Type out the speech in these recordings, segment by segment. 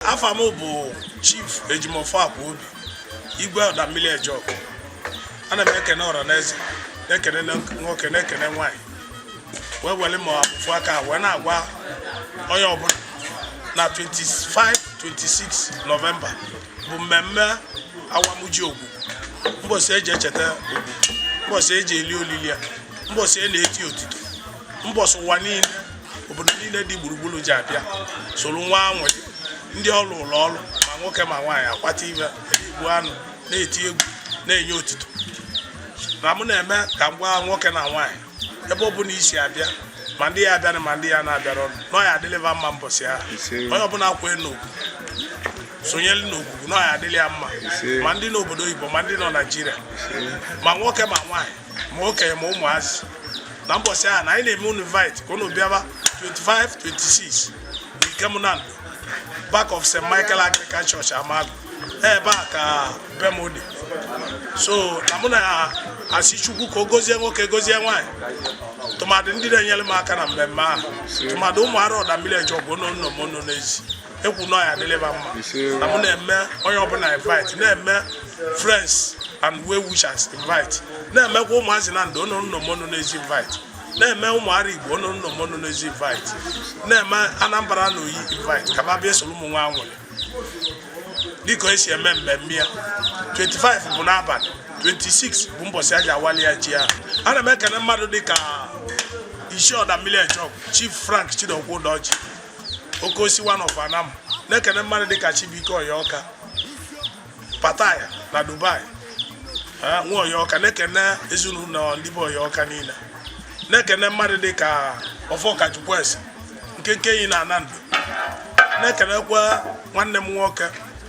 afa m bụ chief ejimofo akwa obi igwe ọda mmiri eje ogwu ana m ekene ọra na eze na-ekene nwoke na-ekene nwaanyị wee were ma afụfụ aka wee na-agwa onye ọbụla na 25 26 nọvemba bụ mmemme awamụ ji ogwu mbọsị eji echeta ogwu mbọsị eji eli olili ya mbọsị a na-eti otito mbọsị ụwa niile obodo niile dị gburugburu ji abịa soro nwa anwụ ndị ọrụ ụlọ ọrụ ma nwoke ma nwaanyị akwata ibe egbu anụ na-eti egwu na-enye otito na mụ na-eme ka m gwa nwoke na nwaanyị ebe ọ bụla i si abịa ma ndị ya abịara ma ndị ya na-abịara ọnụ na ọ ya-adịlị va mma mbọsị ahụ onye ọbụla kwee n'ogwu sonyere n'ogwugwu na ọ ya-adịlị ya mma ma ndị nọ obodo oyibo ma ndị nọ naijiria ma nwoke ma nwaanyị ma okenye ma ụmụazị na mbọsị ahụ na anyị na-eme unu invite ka unu bịaba 25 26 Ikem Nando back of St. Michael Anglican Church Amagu ebe a ka be m dị so na mụ na-asị Chukwu ka o gozie nwoke gozie nwaanyị tụmadụ ndị na-enyere m aka na mmemme ahụ tụmadụ ụmụ ara ọda mmiri eje ogwu nọ n'ụnọ ma ọ nọ n'ezi ekwu na ọ ya-adịlị ba mma na mụ na-eme onye ọbụla invite na-eme friends and well wishers invite na-emekwa ụmụazị nando ọ nọ n'ụnọ ma ọ nọ n'ezi invite na-eme ụmụ ara igbo ọ nọ n'ụnọ ma ọ nọ n'ezi invite na-eme anambra na oyi invite ka ba bịa soro mụnwa nwere dịka esi eme mmemme ya 25 bụ n'abalị 26 bụ mbọsị a ji awali ya ji ahụ ana m ekene mmadụ dịka isi ọda mmiri eje ogwu chief frank chidokwu udoji okosi one of anam na-ekene mmadụ dịka Chibuike Oyeọka Pataya na Dubai nwa Oyeọka na-ekene ezinụlọ ndị bụ Oyeọka niile na-ekene mmadụ dịka Ọfọka Chukwueze nkenke enyi na Nando na-ekenekwa nwanne m nwoke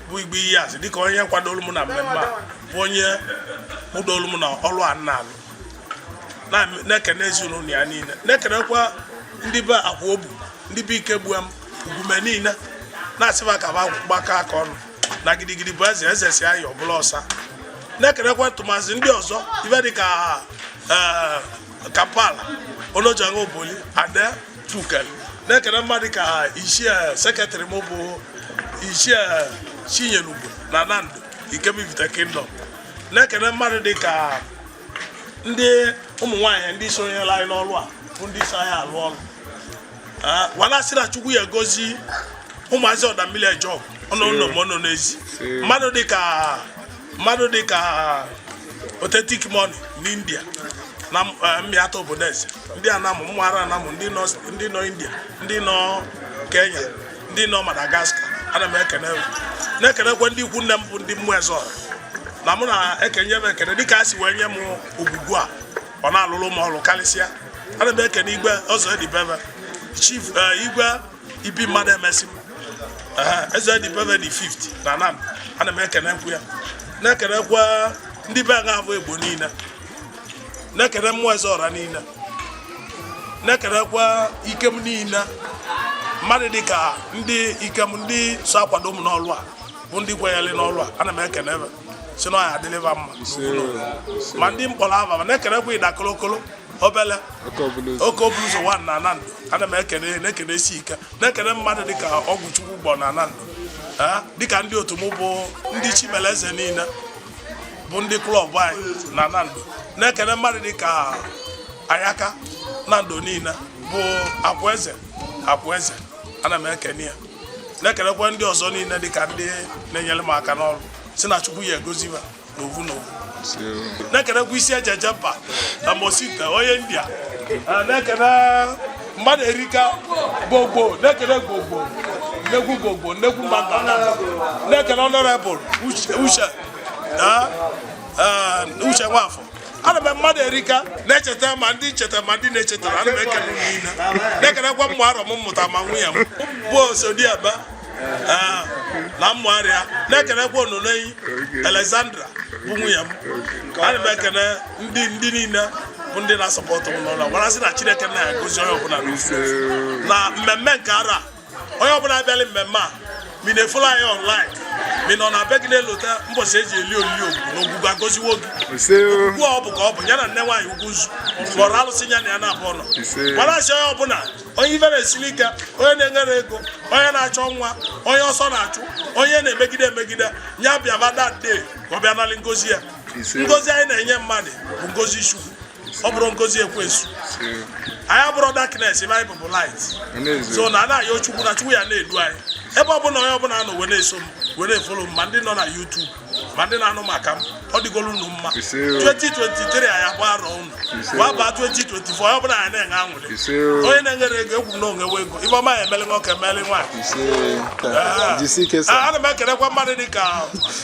bụ Igbo Iyiazị dịka onye kwadoro m na mmemme a bụ onye kpụdoro m na ọlụ a na-alụ na-ekene ezinụlọ ya niile na-ekenekwa ndị be akwa obu ndị be ike gbuo m ugume niile na-asị ba ka ba gbakọọ aka ọnụ na gidigidi bụ eze eze si ayọ ọbụla ọsa na-ekenekwa tụmazi ndị ọzọ ive dịka eh, kampala onojaṅa oboli ade tukel na-ekene mmadụ ka ichie eh, sekretarị m bụ ichie eh, chinyelugo na nando ikem ivite kingdom na-ekene mmadụ dịka ndị ụmụ nwaanyị ndị sonyela anyị n'ọrụ a bụ ndị so anyị alụ ọrụ wee na-asị na chukwu ya gozie ụmụazị ọda mmiri eje ogwu ọ nọ n'ụnọ ma ọ nọ n'ezi mmadụ dịka mmadụ dịka authentic money n'india na eh, mmịata obodo eze ndị anam ụmụ ara anam ndị nọ india ndị nọ kenya ndị nọ Madagascar ana m ekene na-ekenekwa ndị ikwu nne m bụ ndị ụmụ eze ọra na mụ na-ekenye m ekene dịka a si wee nye m ogwugwu a ọ na-alụlụ m ọlụ kalịsịa ana m ekene igwe ọzọ edibebe chief eh, igwe ibi mmadụ emesi m eze edibebe dị 50 na Nando ana m ekenekwu ya na-ekenekwa ndị be nga abụ egbo niile na-ekene ụmụ eze ọra niile na-ekenekwa Ikem niile mmadụ dị ka ndị Ikem ndị so akwado m n'ọlụ a bụ ndị kwenyere n'ọlụ a ana m ekene sị na ọ ya-adịlị ba mma ma ndị m kpọrọ ava ma na-ekenekwa ịda kolokolo obele oke obulu ụzọ 1 na Nando ana m ekene na-ekene isi ike na-ekene mmadụ dịka ọgwụ chukwu gbọ na Nando dịka ndị otu m bụ ndị Chimeleze niile bụ ndị klọb anyị na Nando na-ekene mmadụ dị ka Ayaka Nando niile bụ akwaeze akwaeze ana m ekene ya na-ekenekwa ndị ọzọ niile dị ka ndị na-enyele m aka n'ọlụ sị na Chukwu ya-agozi ba na ovu na ovu na-ekenekwa isi ejeje mba na mosita onye India na-ekene mmadụ erika gbogbo na-ekene gbogbo nnekwu gbogbo nnekwu mmadụ na-ekene Honorable Uche Uche Uche Nwafọ ana m mmadụ erika na-echeta ma ndị m cheta ma ndị m na-echetarọ ana m ekene niile na-ekenekwa ụmụ arọ m mụta ma nwunye m bụ osodiaba ah, na ụmụ arọ ya na-ekenekwa ononeyi Alexandra bụ nwunye m ana m ekene ndị ndị niile bụ ndị na-asọpọtụ m n'ụlọ gwara sị na Chineke na-agọzi onye ọbụla n'ofu na mmemme nke arọ a onye ọbụla abịala mmemme a ma ị na-efolo anyị online ma ị nọ na be gị na-elota mbọchị eji eli olili ogwu na ogwugwu agọziwo gị ugbu ọ bụ ka ọ bụ ya na nne nwaanyị ugwu nzu kpọrọ alụsị ya na ya na-abụ ọnọ gwara asị onye ọbụla onye ife na-esili ike onye na-enwerọ ego onye na-achọ nwa onye ọsọ na-achụ onye a na-emegide emegide ya bịaba that day ka ọ bịa nalụ ngozi ya ngozi anyị na-enye mmadụ bụ ngozi chukwu ọ bụrọ ngozi ekwensu anyị abụrọ darkness ife anyị bụ bụ light so na a na-ayọ Chukwu na chukwu ya na-edu anyị ebe ọ bụla onye ọbụla nọ wee na-eso m wee na-efolo m ma ndị nọ na YouTube ma ndị na-anụ maka m ọ dịgoro unu mma 2023 anyị agba arọ unu wee baa 2024 onye ọbụla anyị na-enwe anwụrị onye na-enwerọ ego ekwu na o nwee ego ife ọma ya emeli nwoke emeli nwaanyị ana m ekelekwa mmadụ dị ka